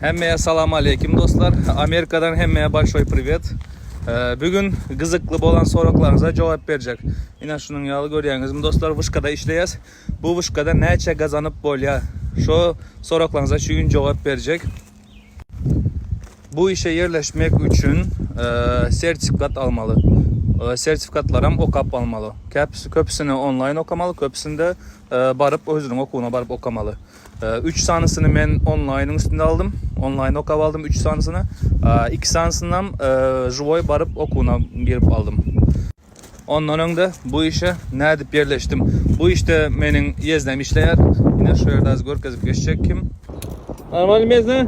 Hemmeye salam aleyküm dostlar. Amerikadan hemmeye başoy privet. Ee, bugün gyzykly bolan soraklarynıza cevap berjek. Ine şunun yalı görýäňiz. Mi dostlar vuşkada işleýäs. Bu vuşkada näçe gazanyp bolýa? Şo soraklarynıza şu gün cevap berjek. Bu işe yerleşmek üçin ee, sertifikat almaly. Ee, sertifikatlaram okap almaly. Köpüsini online okamaly, köpüsinde ee, baryp özüniň okuwyna baryp okamaly. Üç sanysyny men onlaýnyň üstünde aldym. Onlaýn okap aldym üç sanysyny. Iki sanysynam žiwoý baryp okuwyna girip aldym. Ondan öňde bu işe nädip ýerleşdim? Bu işde meniň ýeznem işleýär. Ine şu ýerde az görkezip geçjek kim. Salam aleýkum ýezne.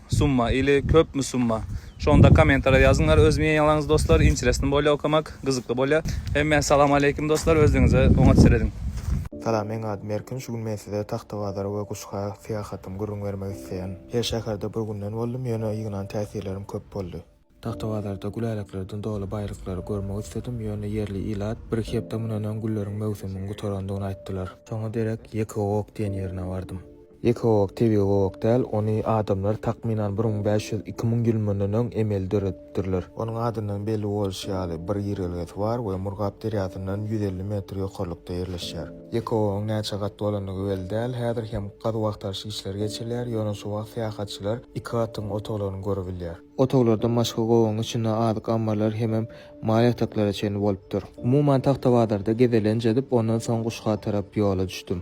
Summa ili köpmi summa. Şonda komentara ýazyňlar öz mýenalaňyzy dostlar interesno bolýa okamak gyzykly bolýa. Hemmä salam aleýkim dostlar özlüňize oňat serediň. Salam meň adym Erkin şu gün men size Tagtabazara we Guşga syýahatym gürrüň bermek isleýän. Her şäherde bir günden boldum ýöne ýygnan täsirlerim köp boldy. Tagtabazarda güläleklerden doly baýlyklary görmek isledim, ýöne ýerli ilat bir-iki hepde mundan öň gülleriň möwsüminiň gutarandygyny aýtdylar. Şoňa derek Ýekegowak diýen ýerine bardym. Ýekegowak tebigy gowak däl, ony adamlar takmynan bir müň bäş ýüz, iki müň ýyl mundan öň emeli döredipdirler. Onuň adyndan belli bolşy ýaly, bir girelgesi bar we Murgap derýasyndan ýüz elli metr ýokarlykda ýerleşýär. Ýekegowagyň näçe gat bolandygy belli däl, häzir hem gazuw-agtaryş işleri geçirilýär, ýöne şu wagt syýahatçylar iki gatyň otaglaryny görebilýär. Otaglarda maşga gowagyň içinde azyk ammarlary hemem mal ýataklara çenli bolupdyr. Umuman Tagtabazarda gezelenç edip, ondan soň Guşga tarap ýola düşdüm.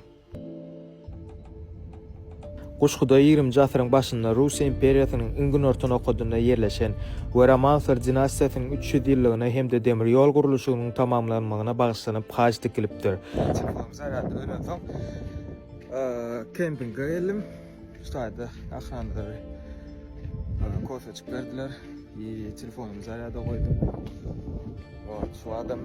Guşguda ýigrimji asyryň başynda Russiýa imperiýasynyň iň günorta nokadynda ýerleşen we Romansow dinastiýasynyň üç ýüz ýyllygyna hem-de demir ýol gurluşygynyň tamamlanmagyna bagyşlanyp haç dikilipdir. Çykdym, sagat ölensoň kempinge geldim. Şu taýda akranlary kosmetik berdiler. Bir telefonumu zarýada goýdum. Ol şu adam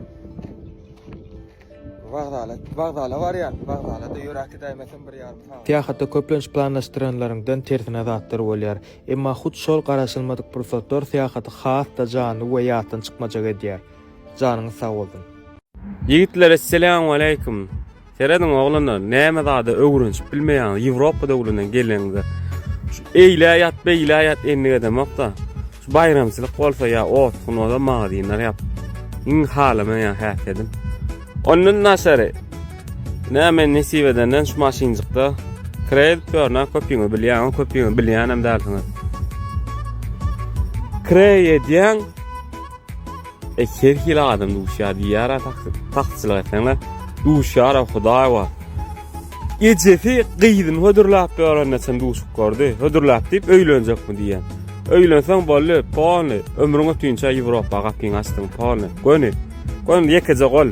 wagzala, wagzala barýan, wagzala da ýöräki däýmesin bir ýarym sagat. Syýahatda köplenç planlaşdyranlaryňdan tersine zatlar bolýar. Emma hut şol garaşylmadyk pursatlar syýahaty has-da janly we ýatdan çykmajak edýär. Janyňyz sag bolsun. Ýigitler Esselamualeýkum. Serediň oglanlar näme zada öwrenşip bilmeýäňiz Ýewropa döwlünden geleniňde. Şu eýlä ýat beýlä ýat endik edemokda. Şu baýramçylyk bolsa ýa ot gün bolsa magazynlar ýap. Iň halamaýan häsiýedim. Ondan daşary näme nesip edenden şu maşynjykda kredit görnä köpüňi bilýän, köpüňi bilýänem dälsiňiz. Kredit edýän Her hili adam duşýar diýýär atasyz. Taksçylyk etseňle duşýara hudaý bar. Ejesi gyzyny hödürläp ýörende çyn duşup gördi. Hödürläp diýip öýlenjekmi diýýän. Öýlenseň boldy, polny. Ömrüň ötünçä Ýewropa gapyňy açdyň, polny. Göni. Göni ýekeje gol.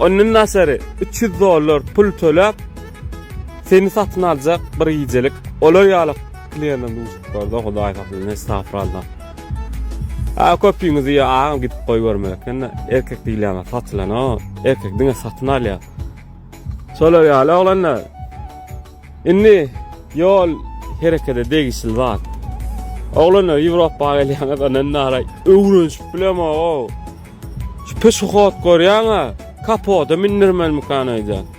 Ondan daşary üç ýüz dollar pul töläp seni satyn aljak bir gijelik olar ýaly kliýendan duşup gördi, hudaý saklsyn, estagfuralla. A köpüňiz diýýär agam gidip goýberme ekende erkek diýilýän satylan o erkek diňe satyn alýar. Şolar ýaly oglanlar. Indi ýol herekete degişli zat. Oglanlar Ýewropa gelýäňiz ondan nara öwrenşip bilemog. Şu peşohod görýäňä kapoda mindirmelimikan öýdýän.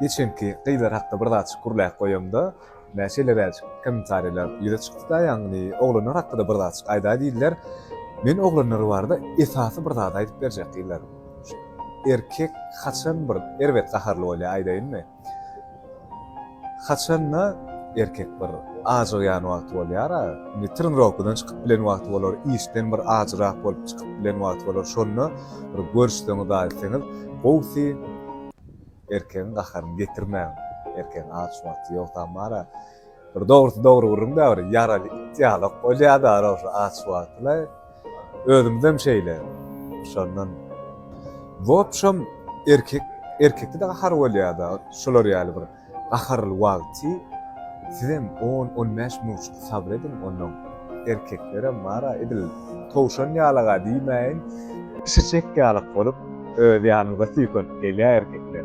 Geçenki gyzlar hakda bir zatjyk gürläp goýamda, ine, şeýleräjik kommentariýalar ýüze çykdy-da, ýagny oglanlar hakda-da bir zatjyk aýdaý diýdiler. Men oglanlar barada esasy bir zady aýdyp berjek gyzlar. Şu erkek haçan bir erbet gaharly bolýar aýdaýynmy? Haçanda erkek bir ajygýan wagty bolýara, indi trenirovkadan çykyp bilen wagty bolar, işden bir ajyrak bolup çykyp bilen wagty bolar, şonda bir görüşseňiz, aýtsaňyz, gowusy erkegiň gaharyny getirmäň, erkegiň aç wagty ýok tamara. Bir dogrusy dogry gürrüň-dä bir ýaraly it ýalak bolýar-da, ana, şo aç wagty-laý. Özümizem şeýle. Şondan wobşem erkek erkekde gahar bolýada şular ýaly bir gaharly wagty sizem on on bäş minutjyk sabyr ediň ondan erkeklerem bara edil towşan ýalaga diýmäýin çiçek ýalak bolup öz ýanyňyza süýkenip gelýä erkekler.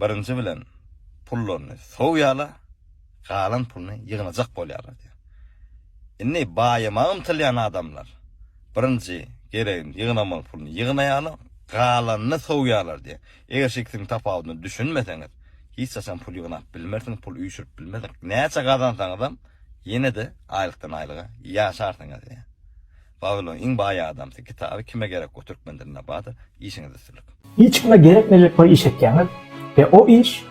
Birinji bilen, pullaryny sowýarlar, galan puluny ýygnajak bolýarlar diýýär. Indi baýamaga ymtylýan adamlar birinji geregini ýygnamaly puluny ýygnaýarlar, galanyny sowýarlar diýýär. Eger şu ikisiniň tapawudyna düşünmeseňiz, hiç haçan pul ýygnap bilmersiňiz, pul üýşürip bilmersiňiz. Näçe gazansaňyzam, ýene-de aýlykdan-aýlyga ýaşarsyňyz diýýär. Wawilon iň baý adamsy kitaby kime gerek bu türkmen dilinde bada işiňiz üstünlik. Hiç kime gerekmejek bir iş etýäňiz we o iş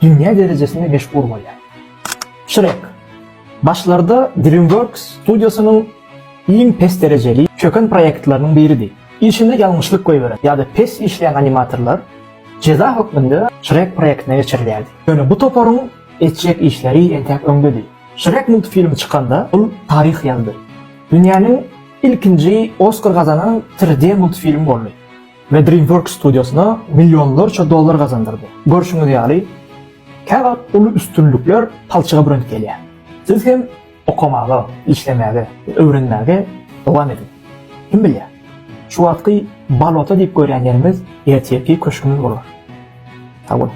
dünýä derejesinde meşhur bolýar. Şrek. Başlarda Dreamworks studiosynyň iň pes derejeli, çöken proýektleriniň biridi. Işinde ýalňyşlyk goýberen ýa-da pes işleýän animatorlar jeza hökmünde Şrek proýektine geçirilýärdi. Ýöne bu toparyň etjek işleri entäk öňdedi. Şrek multfilmi çykanda ol taryh ýazdy. Dünýäniň ilkinji Oskar gazanan 3D multfilmi boldy we DreamWorks studiosyna millionlarça dollar gazandyrdy. Görşüňiz ýaly, käwagt uly üstünlikler palçyga bürenip gelýär. Siz hem okamaga, işlemäge we öwrenmäge dowam ediň. Kim bilýär, şu wagtky bolota diýip görýän ýeriňiz ertirki köşgüňiz bolar. Sag boluň!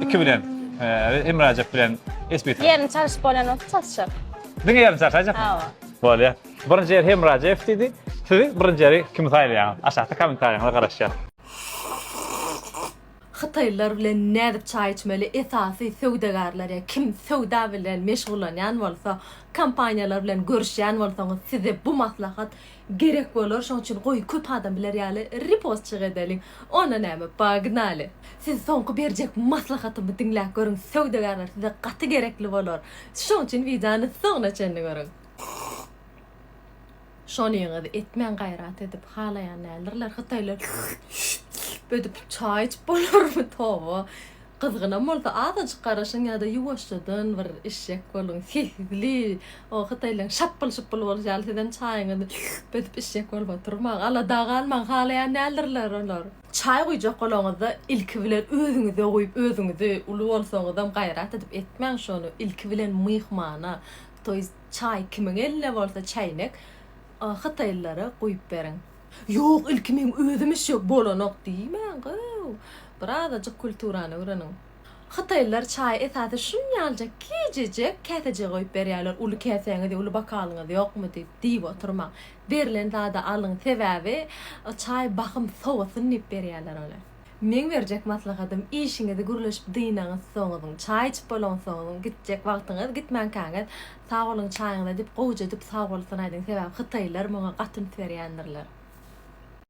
Iki bilen, e, Emre Ajap bilen Esbit. Ýerini çalyşyp bolýan bolsa çalyşak. Diňe ýerini çalyşajak. Hawa. Bolýar. Birinji ýer Emre Ajaýew diýdi. Siz birinji ýeri kimi saýlaýaňyz? Aşakda kommentariýaňyza garaşýar. Hytaýlylar bilen nädip çaý içmeli? Esasy söwdagärler ýa kim söwda bilen meşgullanýan bolsa, kompaniýalar bilen görüşýän bolsaňyz, size bu maslahat Gerek bolar şoň üçin goý köp adam biler ýaly repostjyk edeliň. Onda näme pagnaly. Siz soňky berjek maslahatymy diňläp görüň söwdagärler size gaty gerekli bolar. Şoň üçin wideony soňuna çenli görüň. Şonyňyzy etmäň gaýrat edip halaýan däldirler hytaýlar ödip çaý içip bolarmy toba. Gyzgynam bolsa azajyk garaşyň ýa-da ýuwaşjadan bir içjek boluň. Sesli, o hytaýlaryň şapbul-şupbul bolşy ýaly sizem çaýyňyzy edip içjek bolup oturmaň. Alada galmaň, halaýan däldirler olar. Çaý guýjak bolaňyzda ilki bilen özüňize guýup, özüňizi, uly bolsaňyzam gaýrat edip etmäň şony, ilki bilen myhmana, to ýest çaý kimiň elinde bolsa çäýnek, o hytaýlylara guýup beriň. Ýok, ilki meň özüm işek bolanok diýmäň-ow. Birazajyk kulturany öwreniň. Hytaýlylar çaýy esasy şunýaljak kiçijek käsejä goýup berýärler, uly käsäňiz, uly bokalyňyz ýokmy diýip, diýip oturmaň. Berlen zady alyň, sebäbi çaý bahym sowasyn diýip berýärler ony. Meň berjek maslahatym işiňizi gürleşip dynaňyzsoňyň, çaý içip bolaňsoňyň, gitjek wagtyňyz, gitmänkäňiz sag boluň çaýyňyza diýip gowuja edip sag bolsun aýdyň sebäbi hytaýlylar muňa gaty üns berýändirler.